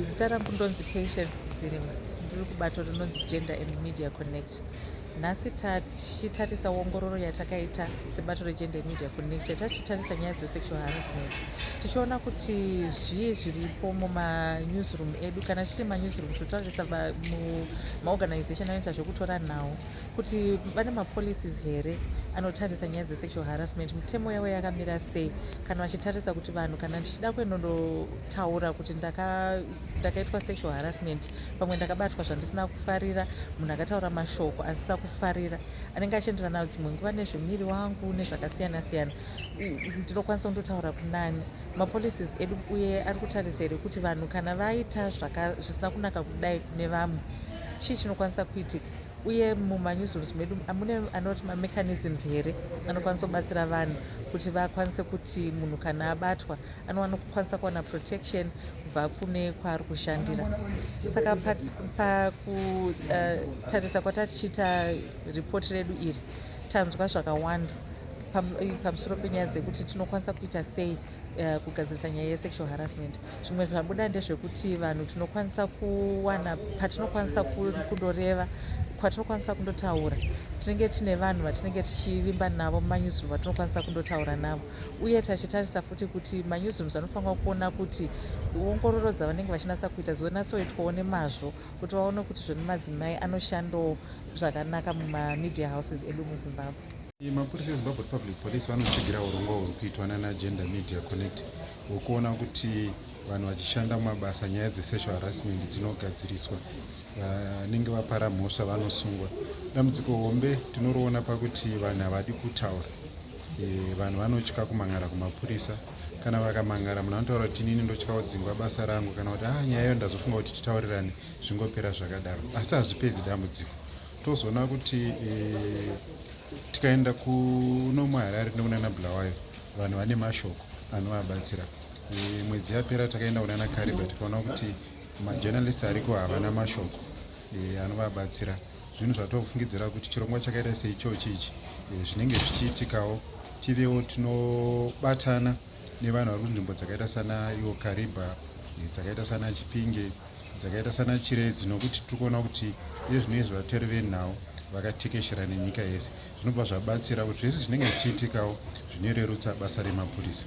Zita rangu ndonzi Patience Zirima, ndiri kubato rinonzi Gender and Media Connect. Nhasi tichitarisa ongororo yatakaita sebato regender media connect yatachitarisa nyaya dzesexual harassment tichiona kuti zvii zviripo mumanewsroom edu kana chiri manewsroom tinotarisa maorganization anoita zvekutora nhau kuti vane mapolicies here anotarisa nyaya dzesexual harassment mitemo yavo yakamira sei kana vachitarisa kuti vanhu kana ndichida kuenondo taura kuti ndakaitwa sexual harassment pamwe ndakabatwa zvandisina kufarira munhu akataura mashoko asisa kufarira anenge achienderana dzimwe nguva nezvemiri wangu nezvakasiyana siyana ndinokwanisa kundotaura kunani mapolicies edu uye ari kutarisa here kuti vanhu kana vaita zvisina kunaka kudai kune vamwe chii chinokwanisa kuitika uye mumanewsrooms medu amune anoti mamechanisms here anokwanisa kubatsira vanhu kuti vakwanise kuti munhu kana abatwa anowana kukwanisa kuwana protection kubva kune kwaari kushandira saka pakutarisa eh, kwatatichiita ripoti redu iri tanzwa zvakawanda eh, pamusoro penyaya dzekuti tinokwanisa kuita sei eh, kugadzirisa nyaya yesexual harassment zvimwe zvabuda ndezvekuti vanhu tinokwanisa kuwana patinokwanisa kundoreva kwatinokwanisa kundotaura tinenge tine vanhu vatinenge tichivimba navo mumanewsroom vatinokwanisa kundotaura navo uye tachitarisa futi kuti manewsrooms anofanira kuona kuti ongororo dzavanenge vachinatsa kuita dzonatsoitwawo nemazvo kuti vaone kuti zvoni madzimai anoshandawo zvakanaka mumamedia houses edu muzimbabwe mapurisa ezimbabwe republic police vanotsigira urongwa huri kuitwa nanagenda media connect hwekuona kuti vanhu vachishanda mumabasa nyaya dzesexual harassment dzinogadziriswa vanenge vapara mhosva vanosungwa dambudziko hombe tinoriona pakuti vanhu havadi kutaura Eh, vanhu vanotya kumangara kumapurisa kana vakamangara munhu anotaura kuti inini ndotya kudzingwa basa rangu kana kuti ah nyaya iyo ndazofunga kuti titaurirane zvingopera zvakadaro asi hazvipedzi dambudziko tozoona kuti eh, tikaenda kuno muharare nekunana bulawayo vanhu vane mashoko anovabatsira eh, mwedzi yapera takaenda kunana kariba tikaona kuti majournalist ariko havana mashoko anovabatsira zvinhu zvatinofungidzira kuti chirongwa chakaita seichochi ichi eh, zvinenge zvichiitikawo tivewo tinobatana nevanhu vari kunzvimbo dzakaita sana iwo kariba eh, dzakaita sana chipinge dzakaita sana chiredzi nokuti tiri kuona kuti nezvinenge zvivateri venhau vakatekeshera nenyika yese zvinobva zvabatsira kuti zvese zvinenge zvichiitikawo zvinorerutsa basa remapurisa